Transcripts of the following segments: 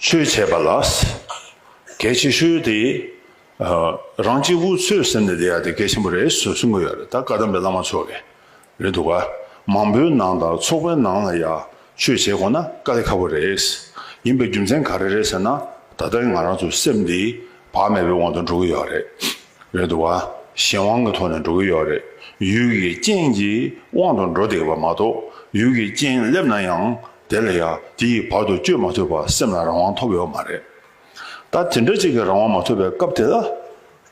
ཆོས་བྱས་པ་ལ་གལ་ཆེ་ཤོས་དེ། རང་གཅིག་བུ་ཚོའི་སེམས་ནས་དེ་ཡག་དེ་གལ་ཆེན་པོ་རེད་ཟེར་གསུང་གི་ཡོད་རེད་ད་བཀའ་གདམས་པའི་བླ་མ་མཆོག་གིས་རེད་འདུག་ག་མང་པོའི་ནང་དང་ཚོགས་པའི་ནང་ལ་ཡག་ཆོས་བྱེད་དགོས་ན་དཀའ་ལས་ཁ་བོ་རེད། ཡིན་པའི་རྒྱུ་མཚན་ག་རེ་རེད་ཟེར་ན་ད་ལྟ་ང་རང་ཚོའི་སེམས་དེ་བག་མེད་པའི་དབང་དུ་འགྲོ་གི་ཡོད་རེད། རེད་འདུག་བ། གཞན་དབང་གི་ཐོག་ནས་འགྲོ་གི་ཡོད་རེད། ཡུལ་གྱི་རྐྱེན་གྱི་དབང་དུ་འགྲོ་བསྡད་པ་མ་གཏོགས་ཡུལ་གྱི་རྐྱེན་སླེབས་ན་ཡང་དེ་ལ་ཡ་དེ་ཡི་བར་དུ་བཅོས་མ་ཐུབ་པར་སེམས་ལ་རང་དབང་ཐོབ་ཡོད་མ་རེད། ད་དེ་འདྲ་གཅིག་གི་རང་དབང་མ་ཐོབ་པའི་སྐབས་དེ་ལ།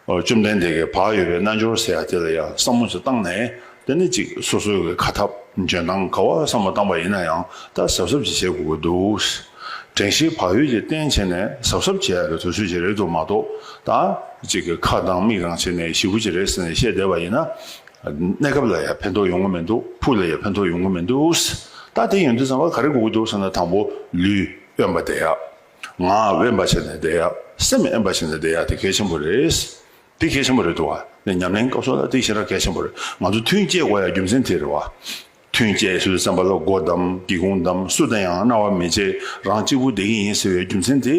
བཅོམ་ལྡན་འདས་ཀྱི་བག་ཡོད་པའི་རྣལ་འབྱོར་ཟེར་ཡ་དེ་ལ་ཡ་བསམ་བློ་ཅིག་བཏང་ནས་དེ་ནི་གཅིག་སོ་སོའི་གི་ཁ་ཐབ་འཇོན་ཐང་ག་བ་སམ་བ་བཏང་བ་ཡིན་ན་ཡང་ད་གཟབ་གཟབ་ཅིག་བྱེད་དགོས་ཀི་འདུག། དྲན་ཤེས་བག་ཡོད་ཀྱིས་གཏན་བྱེད་ནས་གཟབ་གཟབ་བྱེད་ཡ་གི་དུས་ཚོད་ཅིག་རེད་འདུག་མ་གཏོགས་ད་གཅིག་གི་ཁ་གདང་མིག་རང་བྱེད་ནས་ཞི་བུ་ཅིག་རེད་ཟེར་ནས་བཤད་བསྡད་བ་ཡིན་ན། གནས་སྐབས་ལ་ཡ་ཕན་ཐོག་ཡོང་གི་མི་འདུག་ཕུགས་ལ་ཡ་ཕན་ཐོག་ཡོང་གི་མི་འདུག། ད་དེ་ཡོང་དུས་ཙང་བ་ག་རེ་དགོས་ཀི་འདུག་ཟེར་ན་དང་པོ་ལུས་དབེན་པ་བསྡད་ཡ། ངག་དབེན་པ་བྱེད་ནས་བསྡད་ཡ། སེམས་དབེན་པ་བྱེད་ནས་བསྡད་ཡ་དེ་གལ་ཆེན་པོ་རེད། དེ་གལ་ཆེན་པོ་རེད་འདུག་བ། ཉམས་ལེན་སྐབས་སོགས་ལ་དེ་ཤེས་ར་གལ་ཆེན་པོ་རེད། ང་ཚོ་ཐུན་བཅད་དགོས་ཡ་རྒྱུ་མཚན་དེ་རེད་བ། ཐུན་བཅད་སུས་བསམ་པ་ལ་སྒོ་བསྡམ་སྒེའུ་ཁུང་བསྡམ་སུ་དང་ཡང་རྣ་བ་མི་བྱེད་རང་གཅིག་པུ་བསྡད་ཀྱི་ཡིན་ཟེར་བའི་རྒྱུ་མཚན་དེ།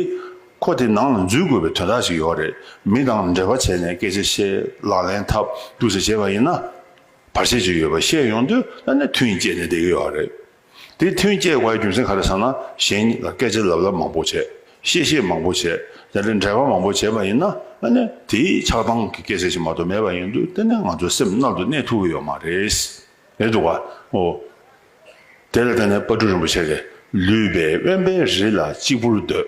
ཁོ་དེ་ནང་ལ་འཛུལ་དགོས་པའི་དོན་དག་ཅིག་ཡོད་རེད། མི་དང་འབྲེལ་བ་བྱས་ནས་སྐད་ཆ་བཤད་ལག་ལེན་ཐབས་སྡུག་ཅིག་བྱས་པ་ཡིན་ན། བར་ཆད་ཅིག་ཡོད་པ་ཤེས་ཡོང་དུས་ད་ནས་ཐུན་བཅད་ནས་བསྡད་ཀྱི་ཡོད་རེད། དེ་མཐུན་སྐྱེས་བའི་རྒྱུ་མཚན་ག་རེ་ཟེར་ན་གཞན་ལ་སྐད་ཆ་ལབ་ལབ་མང་པོ་བྱས། བཤད་བཤད་མང་པོ་བྱས། དེ་འདྲའི་འབྲེལ་བ་མང་པོ་བྱས་པ་ཡིན་ན་ཨ་ནི་དེའི་ཆགས་སྡང་གི་སྐད་ཆ་ཞིག་མ་གཏོགས་མེད་པ་ཡིན་དུས་དེ་ནི་ང་ཚོའི་སེམས་རྣལ་དུ་གནས་ཐུབ་ཀྱི་ཡོད་མ་རེད། རེད་འདུག་བ་འོ། དེ་ལ་བརྟེན་ནས་དཔའ་སྤྲུལ་རིན་པོ་ཆེ་དེ་ལུས་པའི་དབེན་པའི་རི་ལ་གཅིག་པུར་སྡོད།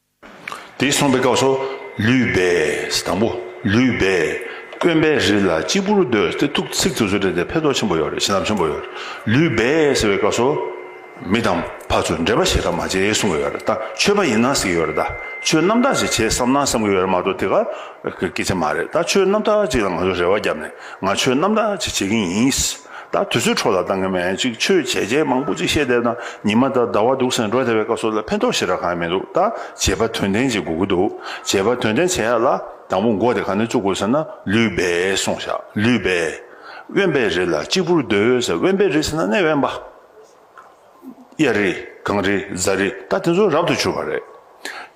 དེ་གསུངས་པའི་སྐབས་སུ། ལུས་སྦས། དང་པོ། ལུས་སྦས། དཀོན་པའི་རི་ལ་གཅིག་པུར་སྡོད་དེ་ཐུགས་ཚིག་ཚུལ་སོགས་བྲིས་ཏེ་འཕེལ་དོགས་ཆེན་པོ་ཡོད་རེད་ཞེ་སྡང་ཆེན་པོ་ཡོད་རེད། ལུས་སྦས་ཟེར་བའི་སྐབས་སུ། མི་དང་ཕ་ཚུལ་འབྲེལ་པ་བྱེད་ཐབས་མ་བྱེད་གསུངས་ཀྱི་ཡོད་རེད་ད་ཆོས་པ་ཡིན་ན་ཟེར་གྱི་ཡོད་རེད་ད་ཆོས་རྣམ་དག་ཅིག་བྱེད་བསམ་ན་བསམ་གྱི་ཡོད་རེད་མ་གཏོགས་དེ་ག་གི་སྐད་ཆ་མ་རེད་ད་ཆོས་རྣམ་དག་ཅིག་ལ་ང་ཚོས་རེ་བ་བརྒྱབ་ནས་ང་ཆོས་རྣམ་དག་ཅིག་བྱེད་ཀྱིན་ཡིན། ད་དུས་ཚོད་འཕྲོ་ལ་བཏང་གི་མེད་ཅིག་ཆོས་བྱས་རྗེས་མང་པོ་ཅིག་ཤེས་བསྡད་ན་ཉི་མ་ད་ཟླ་བ་འདུག་སེང་འབྲོག་སྡེ་བའི་སྐབས་སོགས་ལ་ཕན་ཐོགས་ཤེས་ར་གང་ཡང་མི་འདུག་ད་བྱེད་པ་དོན་ལྡན་ཅིག་དགོས་ཀྱི་འདུག་བྱེད་པ་དོན་ལྡན་བྱེད་ཡག་ལ་དང་པོ་མགོ་དེ་གང་ནས་བཙུགས་དགོས་ཟེར་ན་ལུས་སྦས་སོང་ཤག་ལུས་སྦས། དབེན་པའི་རི་ལ་གཅིག་པུར་སྡོད་ཟེར་དབེན་པའི་རི་ཟེར་ན་གནས་དབེན་པ། གཡས་རི་གངས་རི་གཟའ་རི་ད་དེ་ཚོ་རབ་ཏུ་བྱུར་བ་རེད།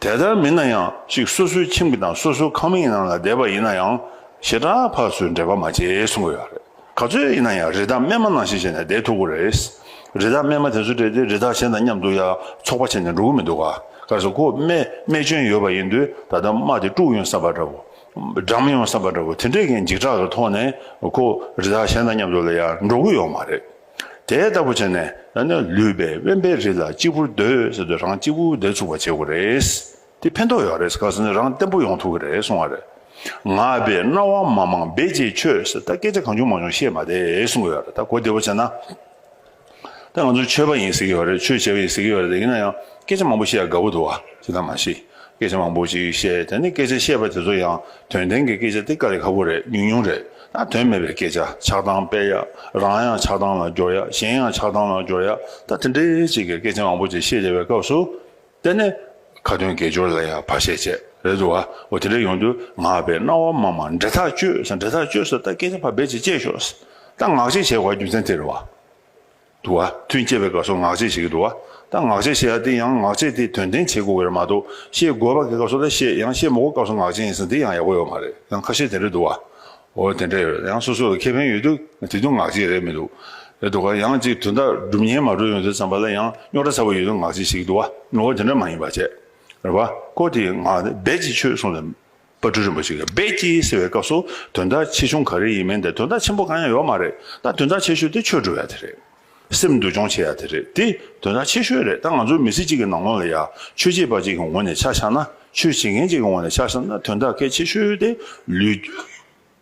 དེ་ལྟར་མིན་ན་ཡང་ཅིག་སོ་སོའི་ཁྱིམ་གྱི་དང་སོ་སོའི་ཁང་མིག་ནང་ལ་བསྡད་པ་ཡིན་ན་ཡང་ཞེ་དྲག་ཕག་སོའི་འདྲེས་པ་མ་བྱེད་གསུང་གི་ཡོད་རེད། ག་ཚོད་ཡིན་ན་ཡང་རི་དྭགས་རྨས་མ་ནང་བཞིན་བྱས་ནས་བསྡད་ཐུབ་གི་རེད། རི་དྭགས་རྨས་མ་དེ་ཚོ་བསྡད་དེ་རི་དྭགས་གཞན་དང་མཉམ་འདུག་ཡ་འཚོགས་པ་བྱས་ནས་འགྲོ་གི་མི་འདུག་ག་ག་སོ་ཁོ་རྨས་རྨས་སྐྱོན་ཡོད་པ་ཡིན་དུས་ད་ལྟ་རྨ་དེ་དཀྲུགས་ཡོང་བསམ་པ་འདྲ་བོ། སྦྲང་མི་ཡོང་བསམ་པ་འདྲ་བོ་དེ་འདྲས་ཀྱི་འཇིགས་སྐྲག་གི་ཐོག་ནས་ཁོ་རི་དྭགས་གཞན་དང་མཉམ་འདུག་ལ་ཡ་འགྲོ་གི་ཡོད་མ་རེད། དེ་ལྟ་བུ་བྱས་ནས་ཡང་ན་ལུས་པའི་དབེན་པའི་རི་ལ་གཅིག་པུར་སྡོད་ཟེར་དུས་རང་གཅིག་པུ་བསྡད་ཚུགས་པ་བྱེད་དགོས་རེད། དེ་ཕན་ཐོགས་ཡོད་རེད་ག་ཟེར་ན་རང་བརྟན་པོ་ཡོང་ཐུབ་ཀྱི་རེད་གསུང་བ་རེད། ང་བས་རྣ་བ་མང་མང་སྦེད་རྗེས་ཁྱོད་ཟེར་ད་སྐད་ཆ་གང་བྱུང་མང་བྱུང་བཤད་མ་བསྡད་གསུང་གི་ཡོད་རེད་ད་གོ་བདེ་བོ་བྱས་ན། ད་ང་ཚོ་ཆོས་པ་ཡིན་ཟེར་གྱི་ཡོད་རེད་ཆོས་བྱེད་པ་ཡིན་ཟེར་གྱི་ཡོད་རེད་ཡིན་ན་ཡང་སྐད་ཆ་མང་པོ་བཤད་དགའ་བོ་འདུག་བྱས་ད་མ་ཤི་སྐད་ཆ་མང་པོ་ཞིག་བཤད་དེ་ནས་སྐད་ཆ་བཤད་པ་དེ་ཚོ་ཡང་དོན་ལྡན་གྱི་སྐད་ཆ་སྟེ་དཀའ་ལས་ཁག་པོ་རེད་ཉུང་ཉུང་རེད། དོན་མེད་པའི་སྐད་ཆ་ཆགས་སྡང་སྤེལ་ཡག་རང་ཡང་ཆགས་སྡང་ལ་སྦྱོར་ཡག་གཞན་ཡང་ཆགས་སྡང་ལ་སྦྱོར་ཡག་ད་དེ་འདྲའི་གཅིག་གི་སྐད་ཆ་མང་པོ་ཅིག་བཤད་བྱ་བའི་སྐབས་སུ་བལྟས་ནས་ཁ་དོན་དགེ་སྦྱོར་ལ་ཡང་བར་ཆད་བྱས་རེད་འདུག་ཨ་འོ་དེ་འདྲ་ཡོང་དུས་ང་བའི་སྣང་བ་མ་མ་འདྲེ་ཐག་གཅོད་ས་འདྲེ་ཐག་གཅོད་ས་ད་སྐད་ཆ་བར་བལ་ཅིག་བཅད་ཤོག་ད་ངག་གཅིག་བྱས་བར་རྒྱུ་མཚན་དེ་རེད་བ། དུ་བ། ཐུན་བསྐྱེད་པའི་སྐབས་སུ་ངག་བཅད་བྱེད་ཀྱི་དུ་བ། ད་ངག་བཅད་བྱེད་ལ་དེ་ཡང་ངག་བཅད་དེ་དོན་བསྟན་བྱེད་དགོས་བེར་མ་གཏོགས་བཤད་དགོས་པ་གི་སྐབས་སུ་ད་བཤད་ཡང་བཤད་མོ་གོ་སྐབས་སུ་ངག་བཅད་ཡིན་ཟིན་དེ་ཡང་ཡག་པོ་ཡོད་མ་རེད་ཡང་ཁ་བཤད་དེ་འདྲ་འདུག་བ། འོ་དེ་འདྲ་ཡོད་ཡང་སོ་སོ་ལ་ཁེ་ཕན་ཡོད་དུས་དེ་དུས་ངག་བཅད་རེད་མི་འདུག་རེད་འདུག་ག་ཡང་གཅིག་དོན་དག་སྒྲུབ་ཉན་མ་གྲོལ་ཡོང་དུས་ཙམ་པ་ལ་ཡང་རྙོག་དྲ་ཚ་བོ་ཡོད་དུས་ངག་བཅད་བྱེད་ཀྱི་དུ་བ། འོ་དེ་འདྲ་མ་ཡིན་པ་བཅད་རེད་བ། ཀོ་དེ་ཡིན་ངག་བཟླས་ཀྱི་ཆོས་གསུངས་ཟིན། པར་སྤྲུལ་རིན་པོ་ཆེ་གིས་བེད་ཀྱིས་ཟེར་བའི་སྐབས་སུ་དོན་དག་ཆེ་ཆུང་ག་རེ་ཡིན་མིན་དེ་དོན་དག་ཆེན་པོ་གང་ཡང་ཡོད་མ་རེད་ད་དོན་དག་ཆེ་ཤོས་དེ་ཆོས་སྒྲུབ་ཡ་དེ་རེད། སེམས་འདུལ་སྦྱོང་བྱེད་ཡ་དེ་རེད་དེ་དོན་དག་ཆེ་ཤོས་རེད་ད་ང་ཚོ་མི་སེར་གཅིག་གི་ནང་ངོ་ལ་ཡ་ཆོས་བྱེད་པ་གཅིག་གི་ངོ་ནས་ཆ་བཞག་ན་ཆོས་བྱེད་མཁན་གཅིག་གི་ངོ་ནས་ཆ་བཞག་ན་དོན་དག་གལ་ཆེ་ཤོས་དེ་ལུས།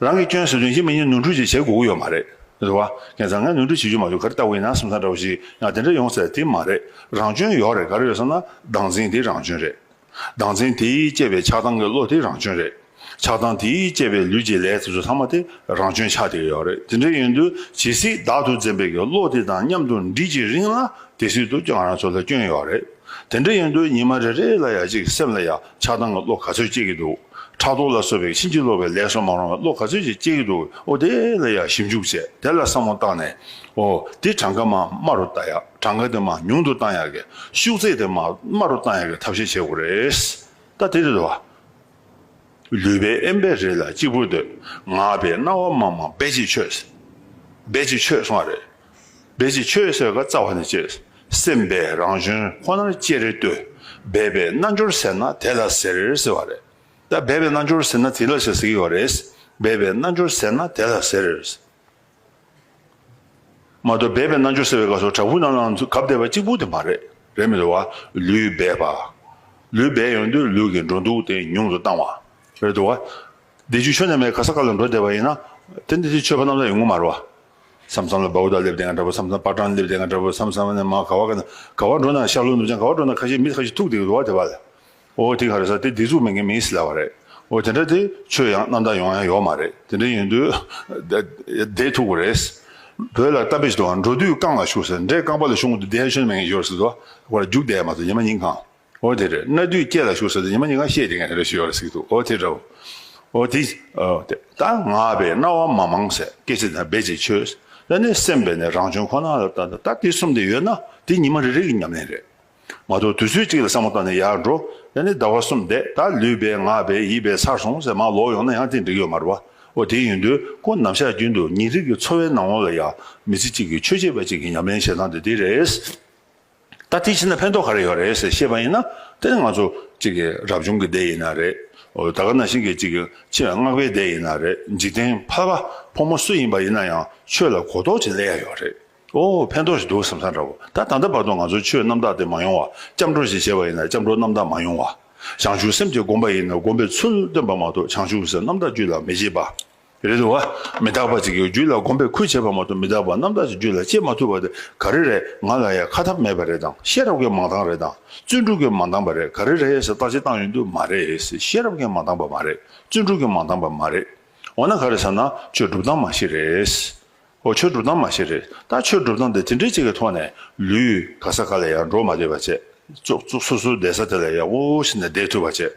རང་གི་སྐྱོན་ཟེར་དོན་གཞི་མི་གཉིས་ནོར་འཁྲུལ་ཅིག་བྱེད་དགོས་ཀྱི་ཡོད་མ་རེད། རེད་བ། ངས་བཟང་ངན་ནོར་འཁྲུལ་བྱེད་རྒྱུ་མ་བྱུང་ག་རེ་ལྟ་བུ་ཡིན་ན་སེམས་ཚང་འདྲ་བོ་ཞིག་ཡང་དེ་འདྲ་ཡོང་ཟེར་དེ་མ་རེད། རང་སྐྱོན་ཡོག་རེད་ག་རེ་ཡོད་བསམ་ན་སྡང་འཛིན་དེ་རང་སྐྱོན་རེད། སྡང་འཛིན་དེས་བསྐྱེད་པའི་ཆགས་སྡང་གི་བློ་དེ་རང་སྐྱོན་རེད། ཆགས་སྡང་དེས་བསྐྱེད་པའི་ལུས་ཀྱི་ལས་དེ་ཚོ་ཚང་མ་དེ་རང་སྐྱོན་ཆགས་དེ་ཡོག་རེད་དེ་འདྲ་ཡིན་དུས་ཇི་སྲིད་བདག་ཏུ་འཛིན་པའི་གི་བློ་དེ་དང་མཉམ་དུ་འདྲིས་ཀྱི་རིང་ལ་དེ་སྲིད་དུ་ང་རང་ཚོ་ལ་སྐྱོན་ཡོག་རེད། དེ་འདྲ་ཡིན་དུས་ཉི་མ་རེ་རེ་ལ་ཡང་ཅིག་སེམས་ལ་ཡང་ཆགས་སྡང་གི་བློ་ག་ཚོད་སྐྱེ་གི་འདུག་ཕྲག་དོག་ལ་སོགས་པའི་ཕྱིན་ཅི་ལོག་པའི་ལས་སུ་མ་རུང་བའི་བློ་ག་ཚོད་ཅིག་སྐྱེ་གི་འདུག་ཨོ་དེ་ལ་ཡང་ཞིབ་འཇུག་བྱས་དེ་ལ་བསམ་བློ་བཏང་ནས་ཨོ་དེ་གྲངས་ཀ་མ་དམའ་རུ་བཏང་ཡག་གྲངས་ཀ་དེ་མ་ཉུང་དུ་བཏང་ཡག་གི་ཤུགས་ཚད་དེ་མ་དམའ་རུ་བཏང་ཡག་གི་ཐབས་ཤེས་བྱེད་དགོས་རེད་ད་དེ་རེད་བ། ལུས་པའི་ཨེམ་བེ་རེད་ལ་གཅིག་པུ་འདོད་ངག་པའི་རྣ་བ་མ་མ་བེ་ཅིག་ཆོད་བེ་ཅིག་ཆོད་སོང་བ་རེད། འབད་ཅིང་ཆོས་བསོད་ཀ་རྩ་བ་ནས་བསྐྱེད། སེམས་དཔའི་རང་བཞོན་ཁོ་ནར་ཅེ་རེ་ལྟོས། སྦས་པའི་རྣལ་འབྱོར་ཟེར་ན་དེ་ལ་ཟེར་ཟེར་བ་རེད། ད་སྦས་པའི་རྣལ་འབྱོར་ཟེར་ན་དེ་ལ་ཞེས་ཟེར་གི་བ་རེད། སྦས་པའི་རྣལ་འབྱོར་ཟེར་ན་དེ་ལ་ཟེར། མ་གཏོགས་སྦས་པའི་རྣལ་འབྱོར་ཟེར་བའི་ག་སོ་དྲག་པོ་རྣམས་ལའང་གབ་བསྡད་པ་གཅིག་པུ་དེ་མ་རེད། རེད་མི་འདུག་བ། ལུས་སྦས་པ། ལུས་སྦས་ཡོང་དུས་ལུས་ཀྱི་འགྲོ་འདུག་དེ་ཉུང་དུ་བཏང་བ། རེད་འདུག་བ། འདི་རྒྱུད་ཆོས་རྣལ་མའི་ག་ས་ག་ལ་འགྲོ་བསྡད་པ་ཡིན་ན། དེ་འདི་ཚོའི་ཆོས་པ་རྣམས་ལ་ཡོང་གི་མ་རེད་བ། སམ་སམ་ལ་བ་བུ་དག་སླེབས་དེ་ང་འདྲ་བོ་སམ་སམ་པགས་གྲངས་སླེབས་དེ་ང་འདྲ་བོ་སམ་སམ་ནས་མ་ག་བ་ག་ན་ག་བ་འགྲོ་ན་ཤར་ལུགས་ནུབ་བྱང་ག་བ་འགྲོ་ན་ཁ་ཤས་མི་ཁ་ཤས་ཐུག་དེ་རུ་བ་དེ་བ་ལ་འོ་དེ་ག་རེ་ས་དེ་དེ་ཚུགས་མེད་མཁན་མིན་སི་ལ་བ་རེད་འོ་དེ་འདྲ་དེ་ཆོས་ཡང་རྣམ་དག་ཡོང་ཡང་ཡོག་མ་རེད་དེ་འདྲ་ཡིན་དུས་དེ་ཐུག་གོ་རེད། བོད་ལ་གཏམ་དཔེ་ཞིག་འདུག་ང་འགྲོ་དུས་རྐང་ལ་ཞུགས་ཟེར་འདྲས་རྐང་པ་ལ་ཞུགས་འོང་དུས་དེ་ཧ་ཆོས་ནི་མེད་མཁན་ཞོར་སི་ལ་བ་ར་རྒྱུགས་བསྡད་མ་སོང་ཉི་མ་ཉིན་གང། འོ་དེ་རེད་ན་དུས་བསྐྱེད་ལ་ཞུགས་ཟེར་དུས་ཉི་མ་ཉི་དགའ་ཤེས་དེ་ངས་དེ་རེད་ཞུས་ཡོད་ལ་ཟིག་འདུག་འོ་དེ་འདྲ་བ། འོ་དེ། འོ་དེ། ད་ང་བས་རྣ་བ་མ་མང་ཟེར་སྐད་ཅིག་དང་རྦད་ཅིག་ཆོས་ཟེར་ནས་སེམས་པས་ནི་རང་བྱུང་ཁོ་ན་ལ་བལྟ་འདུག་ད་དེ་གསུམ་དེ་ཡོད་ན་དེ་ཉི་མ་རེ་རེ་གི་ཉམས་ལེན་རེད་མ་གཏོགས་དུས་ཚོད་ཅིག་ལ་བསམ་བློ་བཏང་ནས་ཡར་འགྲོ་ཟེར་ནས་ཟླ་བ་གསུམ་འདས་ད་ལུས་པས་ངག་པས་ཡིད་པས་ཚར་སོང་ཟེར་མར་ལོག་ཡོང་ན་ཡང་དེ་འགྲིག་ཡོད་མ་རེད་བ། འོ་དེ་ཡིན་དུས་ཁོང་ནམ་ཞག་རྒྱུན་དུ་ཉིན་རེ་གི་འཚོ་བའི་ནང་ལོགས་ལ་ཡང་མི་ཚེ་གཅིག་གི་ཆོས་བྱེད་པ་ཅིག་གི་ཉམས་ལེན་བྱེད་སྟངས་དེ་དེ་རེད། ད་དེའི་ཕྱི་ན་ཕན་ཐོག་ག་རེ་ཡོད་རེད་ཟེར་ཤེས་པ་ཡིན་ན་དེ་ནི་ང་ཚོ་གཅིག་རབ་བྱུང་གི་སྡེ་ཡིན་ན་རེད། ད་ག་ན་ཞིག་གི་གཅིག་ཕྱི་ལ་མངགས་པའི་སྡེ་ཡིན་ན་རེད་འཇིག་རྟེན་ཕ་བ་ཕོ་མོ་སུ་ཡིན་པ་ཡིན་ན་ཡང་ཆོས་ལ་གོ་རྟོགས་ཅིག་སླེ་ཡ་ཡོད་རེད། ཨོ་ཕན་ཐོག་ཞིག་འདུག་བསམ་ས་འདྲ་བོ་ད་ད་ལྟ་བར་དུ་ང་ཚོ་ཆོས་རྣམ་དག་དེ་མ་ཡོང་བ་སྐྱབས་འགྲོ་ཞིག་བྱས་པ་ཡིན་ན་སྐྱབས་འགྲོ་རྣམ་དག་མ་ཡོང་བ། བྱང་ཆུབ་སེམས་ཀྱི་སྒོམ་པ་ཡིན་ན་སྒོམ་པའི་ཚུལ་སྟོན་པ་མ་གཏོགས་བྱང་ཆུབ་སེམས་རྣམ་དག་རྒྱུད་ལ་མི་བྱེད་པ། རེད་བ། མི་རྟག་པ་ཅིག་གི་རྒྱུད་ལ་སྒོམ་པའི་ཁུལ་བྱེད་པ་མ་གཏོགས་མི་རྟག་པ་རྣམ་དག་ཅིག་རྒྱུད་ལ་སྐྱེ་མ་ཐུབ་པ་དེ་ག་རེ་རེད་ང་ལ་ཡང་ཁ་ཐབས་མེད་པ་རེད་དང་ཤེས་རབ་ཀྱིས་མ་འདང་རེད་དང་བརྩོན་འགྲུས་ཀྱིས་མ་འདང་པ་རེད་ག་རེ་རེད་ཞེས་བརྟག་དཔྱད་བཏང་ཡོང་དུས་མ་རེད་ཤེས་རབ་ཀྱིས་མ་འདང་པ་མ་རེད་བརྩོན་འགྲུས་ཀྱིས་མ་འདང་པ་མ་རེད། འོ་ན་ག་རེ་བསམ་ན་ཆོས་སྒྲུབ་སྟངས་མ་ཞིག་རེད། ཨོ་ཆོས་སྒྲུབ་སྟངས་མ་ཤེས་རེད་ད་ཆོས་སྒྲུབ་སྟངས་འདི་དེ་འདྲས་ཅིག་གི་ཐོག་ནས་ལུས། ག་ས་ག་ལ་ཡང་འགྲོ་མ་བསྡད་པ་བྱས། ཙོག་ཙོག་སུ་སུ་བསྡད་ས་དེ་ལ་ཡར་བོ་བོ་ཞིག་ནས་བསྡད་ཐུབ་པ་བྱས།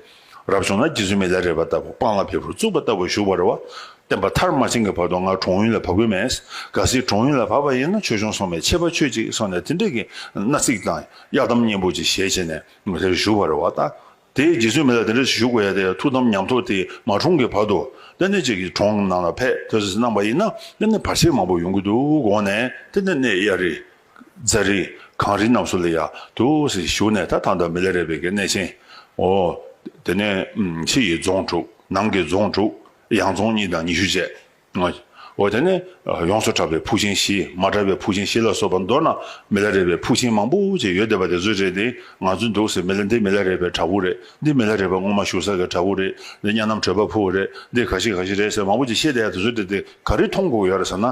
རབ་བྱུང་ན་རྒྱུ་ཟོལ་མི་ལ་རས་པ་ལྟ་བུ་སྤང་ལ་བལ་བུར་བཙུགས་པ་ལྟ་བུ་བཞུགས་པ་རེད་བ། བསྟན་པ་མཐར་མ་ཕྱིན་གི་བར་དུ་ང་གྲོང་ཡུལ་ལ་བབས་གི་མེད། གལ་སྲིད་གྲོང་ཡུལ་ལ་བབས་པ་ཡིན་ན་ཆོས་ཆུང་སོང་བས་ཆད་པ་ཆོད་ཅིག་སོང་ནས་དེ་འདྲས་ཀྱི་མནའ་ཚིག་དང་གཡར་དམ་སྙན་པོ་ཅིག་བཞེས་བྱས་ནས་ང་དེར་བཞུགས་པ་རེད་བ། ད་དེའི་རྗེས་སུ་མི་ལ་དེ་འདྲ་ཞིག་ཞུ་དགོས་ཡ་དེ་ཐུགས་དམ་ཉམས་ཐོག་དེ་མ་འཁྲུངས་ཀྱི་བར་དུ་ལྟེ་གནས་གཅིག་གི་གྲོང་ནང་ལ་ཕེབས་ཐོས་སོས་གནང་བ་ཡིན་ན་ལྟེ་གནས་བར་ཆད་མང་པོ་ཡོང་གི་འདུག་དགོངས་ནས་ལྟེ་གནས་གནས་གཡའ་རི། རྫ་རི། གངས་རི་རྣམས་སུ་ལ་ཡ་དུ་ཞིག་ཞུགས་ནས་ད་ཐང་དང་མི་ལ་རས་པའི་གི་གནས་ཆེན། འོ། དེ་ནས་ཕྱི་ཡི་རྫོང་དྲུག་ནང་གི་རྫོང་དྲུག་ཡང་རྫོང་གཉིས་དང་ཉི་ཤུ་བཅས། ངོ། དེ་ནས་ཡོངས་སུ་གྲགས་པའི་ཕུག་ཆེན་བཞི། མ་གྲགས་པའི་ཕུག་ཆེན་བཞི་ལ་སོགས་པ་མདོར་ན་མི་ལ་རས་པའི་ཕུག་ཆེན་མང་པོ་ཅིག་ཡོད་བསྡད་པ་དེ་ཚོའི་རེད་དེ། ང་ཚོའི་འདུག་སའི་མི་ལ་འདི་མི་ལ་རས་པའི་བྲག་ཕུག་རེད། འདི་མི་ལ་རས་པ་སྔོན་མ་བཞུགས་ས་གི་བྲག་ཕུག་རེད། འདི་གཉའ་ནམ་བྲོས་པ་ཕུག་རེད། འདི་ག་ཞིག་ག་ཞིག་རེད་ཟེར་མང་པོ་ཅིག་ཤེས་བསྡད་ཡ་དེ་ཚོའི་རེད་དེ་ག་རེ་མཐོང་གོ་ཡོད་རེད་ཟེར་ན།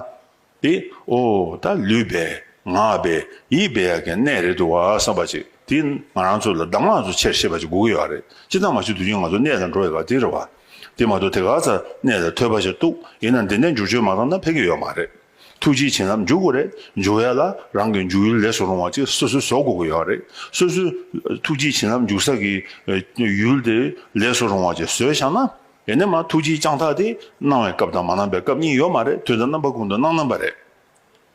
དེ་ཨོ། ད་ལུས་པས། ངག་པས། ཡིད་པས་ཡག་གི་གནས་རེད་འདུག་བསམ་པ་ཅིག་དེ་ང་རང་ཚོ་ལ་གདམས་ངག་ཚོ་ཆེར་ཤེས་པ་ཅིག་དགོས་ཀྱི་ཡོད་རེད། ཅི་ཙམ་མ་ཤེས་དུས་རྒྱུན་ང་ཚོ་གནས་དང་འགྲོ་ཡོད་པ་དེ་རེད་བ། དེ་མ་གཏོགས་དེ་ག་ཚ་ནས་ལ་ཐོས་པ་ཞིག་འདུག་ཡིན་ན་འདི་འདྲའི་འཇུག་ཆོས་མ་གང་ན་ཕེབས་ཀྱི་ཡོད་མ་རེད། ཐུགས་རྗེ་ཆེ་ནམ་འཇུག་གོ་རེད་འཇུག་ཡ་ལ་རང་གི་འཇུག་ཡུལ་ལེགས་སུ་རུང་བ་ཅིག་སོ་སོས་བཟོ་དགོས་ཀྱི་ཡོད་རེད་སོ་སོས་ཐུགས་རྗེ་ཆེ་ནམ་འཇུག་ས་གི་ཡུལ་དེ་ལེགས་སུ་རུང་བ་ཅིག་བཟོས་བཞག་ན་ཡིན་ནས་མ་ཐུགས་རྗེ་བསྐྱངས་ཐག་དེ་གནང་བའི་སྐབས་དང་མ་གནང་པའི་སྐབས་གཉིས་ཡོད་མ་རེད་དུས་ད་རྣམ་པ་ཀུན་ཏུ་སྣང་རྣམ་པ་རེད།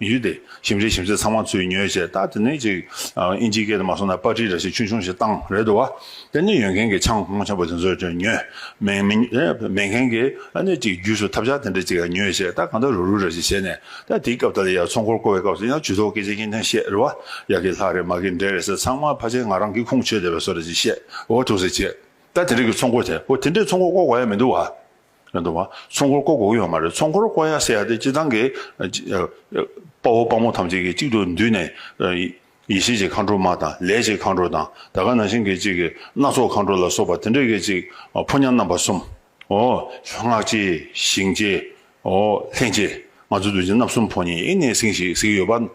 ཡུལ་དེ་ཞིམ་རས་ཞིམ་ཟས་ཚང་མ་ཚུད་ཉོས་བྱས་ད་དེ་ནས་ཅིག་ཨིན་ཇིའི་སྐད་དུ་མ་སོང་ན་པར་ཏྲི་ར་ཞིག་ཆུང་ཆུང་ཞིག་བཏང་རེད་འདུག་བ་དེ་ནས་ཡོད་མཁན་གྱི་ཆང་གོང་ཆེན་པོ་དེ་ཚོ་ཅིག་ཉོས། མེད་མི་མེད་མཁན་གྱི་ཨ་ནས་ཅིག་རྒྱུས་སུ་ཐབས་ཆག་དེ་འདྲ་ཅིག་ཉོས་བྱས་ད་གང་ད་རུག་རུག་ར་ཞིག་བྱས་ནས་ད་དེའི་སྐབས་ད་ལ་ཡར་ཚོང་འཁོར་བསྐོར་བའི་སྐབས་སུ་ཡང་ཇུས་ཏོག་སྐད་ཆ་གཉིས་ཐེངས་བཤད་རེད་བ་ཡ་གི་ལྷག་རེད་མ་གི་འདྲེ་རེད་ཟེར་ཚང་མ་ཕ་ཆེན་ང་རང་གི་ཁུངས་ཆོད་བསྡད་པས་སོ་ར་ཅིག་བཤད་འོ་ཐུགས་ཟེར་བྱས་ད་དེ་འདྲ་གི་ཚོང་འཁོར་དེ་འོ་དེ་འདྲའི་ཚོང་འཁོར་བསྐོར་དགོས་ཡ་མི་འདུག་བ། རེད་འདུག་བ། ཚོང་འཁོར་བསྐོར་དགོས་ཀྱི་ཡོད་མ་རེད། ཚོང་འཁོར་བསྐོར་ཡག་སེ་ཡག་དེ་སྤྱི་བཏང་གི། དཔའ་བོ་དཔའ་མོ་ཐམས་ཅད་ཀྱིས་གཅིག་ཏུ་འདུས་ནས། ཡེ་ཤེས་ཀྱི་མཁའ་འགྲོ་མ་དང་ལས་ཀྱི་མཁའ་འགྲོ་དང་ད་ག་ནང་བཞིན་གྱི་གཅིག་གི་སྣ་ཚོགས་མཁའ་འགྲོ་ལ་སོགས་པ་དེ་འདྲ་གི་གཅིག་ཕོ་ཉ་རྣམ་པ་གསུམ། ཨོ། སྔགས་ཀྱི། ཞིང་ཀྱི། ཨོ། ལྷན་ཅིག། ང་ཚོ་རྡོ་རྗེ་རྣམ་གསུམ་ཕོ་ཉའི་གནས་གསེང་ཞིག་གཟིགས་ཡོད་པ།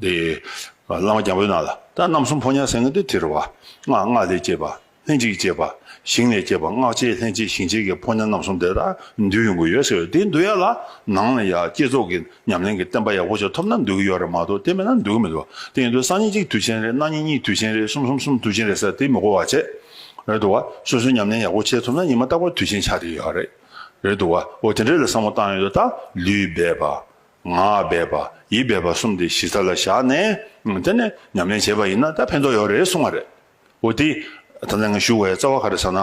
དེ། བླ་མ་རྒྱལ་པོའི་ནང་ལ། ད་རྣམ་གསུམ་ཕོ་ཉའི་གསེང་གི་དེ་དེར་བ། སྔགས་སྔགས་ལས་སྐྱེས་པ། ལྷན་ཅིག་སྐྱེས་པ། ཞིང་ལས་སྐྱེས་པ་སྔགས་སྐྱེས་ལྷན་ཅིག་ཞིང་སྐྱེས་ཀྱི་ཕོ་ཉ་རྣམ་གསུམ་དེ་དག་འདུལ་ཡོང་གི་ཡོད་ཟེར་བས་དེ་འདུལ་ཡ་ལ་ནང་ལ་ཡ་བསྐྱེད་རྫོགས་ཀྱི་ཉམས་ལེན་གྱི་བསྟན་པ་ཡག་པོ་ཞིག་ཐོབ་ན་འདུལ་གི་ཡོད་རེད་མ་གཏོགས་དེ་མེད་ན་འདུལ་གི་མི་འདུག་དེ་ཡིན་དུས་སང་ཉིན་གཅིག་དུས་ཆེན་རེད་གནངས་ཉིན་གཉིས་དུས་ཆེན་རེད་གསུམ་གསུམ་གསུམ་དུས་ཆེན་རེད་ཟེར་དེ་མི་གོ་བ་བྱེད་རེད་འདུག་བ་སོ་སོའི་ཉམས་ལེན་ཡག་པོ་བྱེད་ཐུབ་ན་ཉི་མ་རྟག་པར་དུས་ཆེན་ཆགས་ཀྱི་ཡོད་རེད་རེད་འདུག་བ་འོ་དེ་འདྲ་ལ་བསམ་བློ་བཏང་ཡོད་ད་ལུས་སྦས་པ། ངག་སྦས་པ་ཡིད་སྦས་པ་གསུམ་དེ་གཞི་རྩ་ལ་བཞག་ནས་དེ་ནས་ཉམས་ལེན་བྱས་པ་ཡིན་ན་ད་ཕན་ཐོག་ཡོད་རེད་གསུང་བ་རེད། འོ་དེ། ད་ནངས་བཞུགས་བའི་རྩ་བ་ག་རེ་ཟ་ན།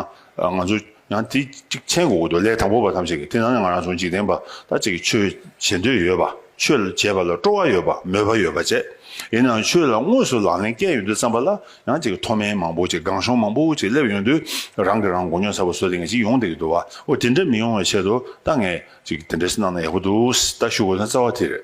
ང་ཚོ། ཡང་དེ་གཅིག་མཁྱེན་དགོས་དགོས་འདུག་ལས་དང་པོ་བ་ཐམས་ཅད་ཀྱིས་དེ་ནང་ནས་ང་རང་ཚོ་འཇིག་རྟེན་པ་དག་ཅིག་གིས་ཆོས་བྱེད་འདོད་ཡོད་པ། ཆོས་བྱེད་པ་ལ་སྤྲོ་བ་ཡོད་པ་མོས་པ་ཡོད་པ་བཅས། ཡིན་ནའང་ཆོས་ལ་དངོས་སུ་ལག་ལེན་བཀལ་ཡོང་དུས་བརྩམས་པ་ལ་ཡང་ཅིག་མཐོ་དམན་མང་པོ་ཅིག་སྒང་གཤོང་མང་པོ་ཅིག་སླེབས་ཡོང་དུས་རང་གིས་རང་མགོ་རྙོག་ཚ་བོ་བཟོ་དེ་ངས་ཅིག་ཡོང་དགོས་ཀྱི་འདུག་བ། འོ་དེ་འདྲ་མི་ཡོང་བའི་ཆེད་དུ་ད་ངས་ཅིག་དེ་འདྲ་ཞིག་གནང་ན་ཡག་པོ་འདུག་ད་བཞུགས་བ་ན་རྩ་བ་དེ་རེད།